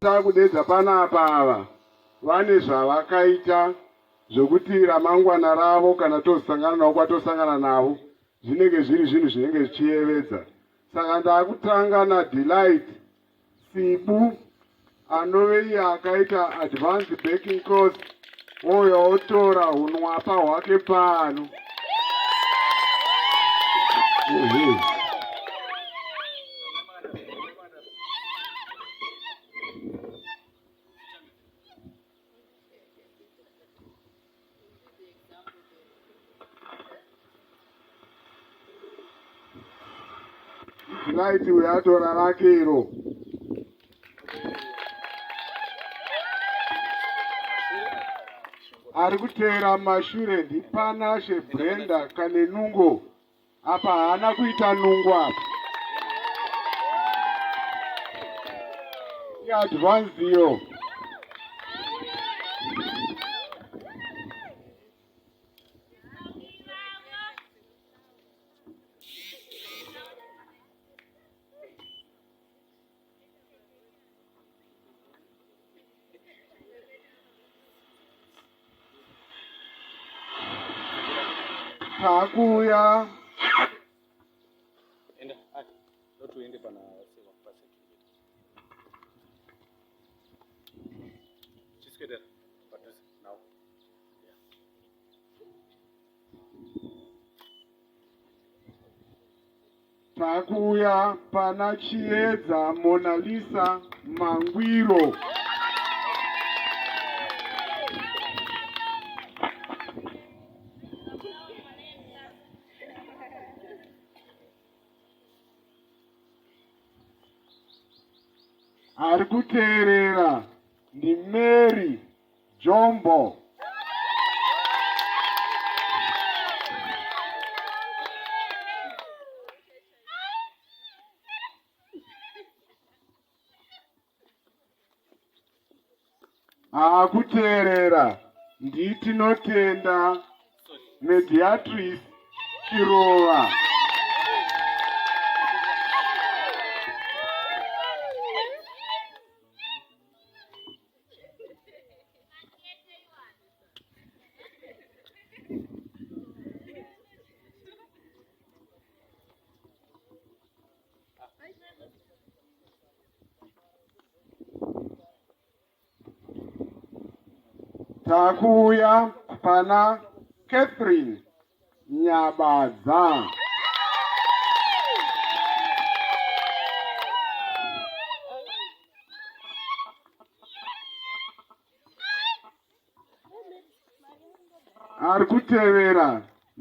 Takudedza panapa ava vane zvavakaita zvokuti ramangwana ravo kana tozosangana navo kwatosangana navo zvinenge zviri zvinhu zvinenge zvichiyevedza saka ndakutanga nadelight sibu anove iye akaita advance backing course oyo otora unwapa hwake pano Light uyo atora rake iro. Ari kuteera mashure ndiPanashe Brenda Kanenungo. Apa haana kuita nungu apa. Advance iyo. Takuya. Enda, ah, ndotu ende pana sewa pasi. Just get there. But this now. Yeah. Takuuya pana Chiedza Monalisa Mangwiro. Ari kuteerera ndi Mary Jombo. Akuteerera nditinotenda mediatrice Chirova. Takuya Pana Catherine. Nyabadza. Ari kutevera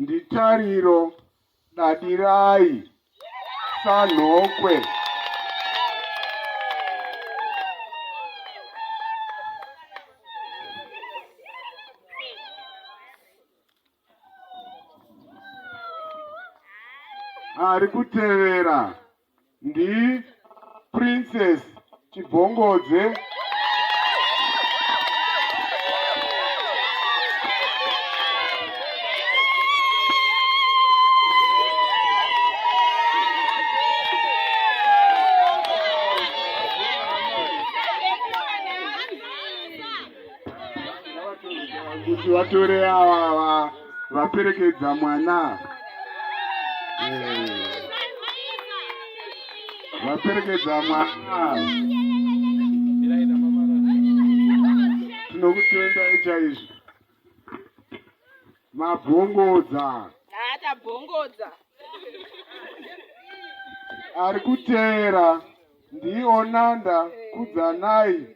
nditariro dadirai sanhokwe. ari kutevera ndi princess chibvongodze kuti vatore avava vaperekedza mwana eh. vaperekedza mwana tinokutenda ichaizvo mabvongodza atabvongodza ari kuteera ndiona ndakudzanai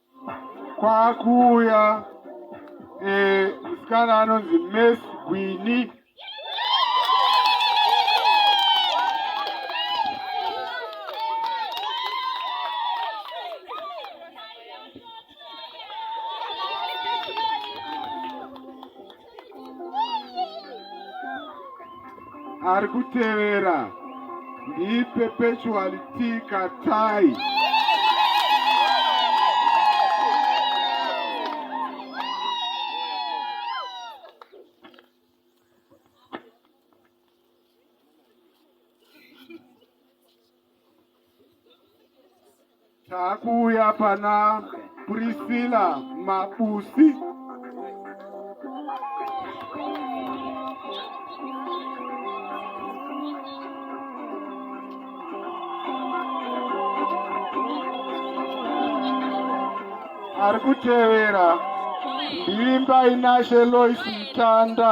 kwakuuya eh, musikana anonzi mes gwini ari kutevera ndiperpetually tikatai Takuuya pana Priscilla Mabusi. ari kutevera ndiimba inashe lois mutanda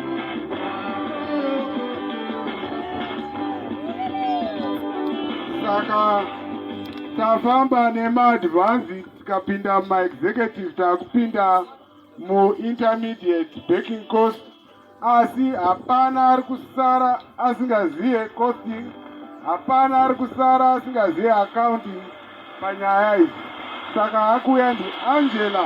saka tafamba nemaadvances tikapinda mumaexecutive takupinda muintermediate backing cost asi hapana ari kusara asingazive costing hapana ari kusara asingazive accounting panyaya idzi saka akuya ndiangela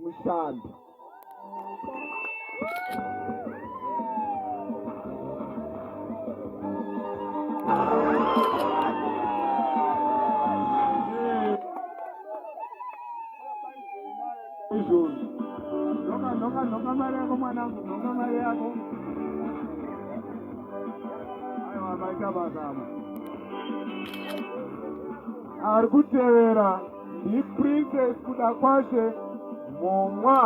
mushando. Izvozvi nhoka nhoka nhoka mari yako mwanangu nhoka mari yako aiwa maita mazama ari kutevera Hi Princess Kudakwashe Mumwa.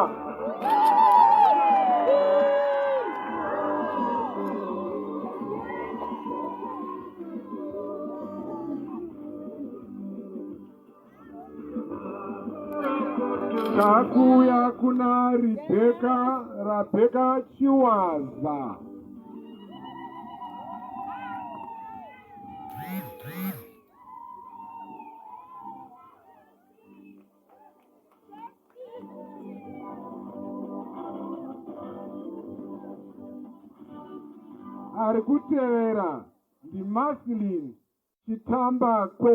Takuya kuna Rebecca, Rebecca Chiwaza. ari kutevera ndimaslin chitambakwe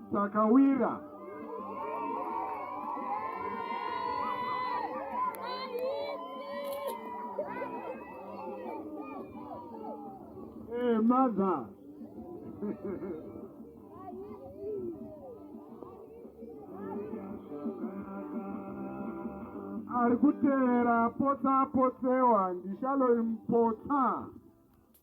Takawira. Hey, eh, mother. ari kutevera potsa potsewa ndichaloimpotsa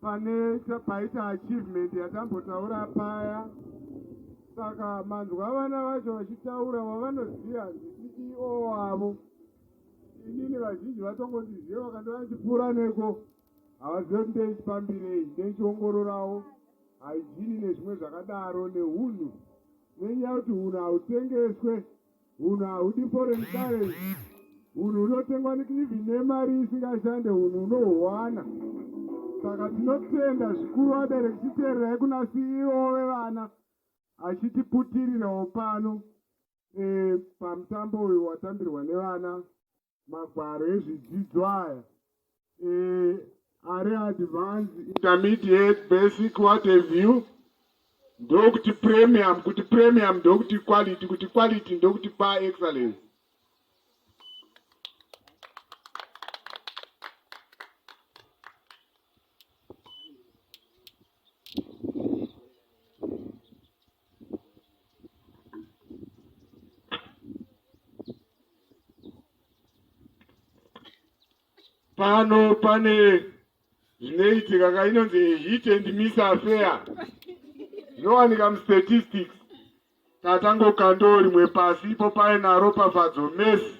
pane paita achievement yatambotaura paya saka manzwa vana vacho vachitaura vavanoziva ndiceo wavo inini vazhinji vatongondiziva vakandiva ndichipfuura neko havazive kuti ndeichipambirei ndeichiongororawo haijini nezvimwe zvakadaro neunhu nenyaya kuti unhu hautengeswe Hunhu haudi foreign currency. Hunhu hunotengwa nekivi nemari isingashande hunhu hunohuwana. Saka tinotenda zvikuru vabereki chiteererai kuna CEO vevana achitiputirirawo pano e, pamutambo uyu watambirwa nevana magwaro ezvidzidzo aya eh, ari advance intermediate basic what have you ndokuti premium kuti premium ndokuti quality kuti quality ndokuti pa excellence pano pane zvinoitika ka inonzi hit and miss affair zvinowanika mustatistics tatangokandoo rimwe pasi ipo painaro pafadzo mesi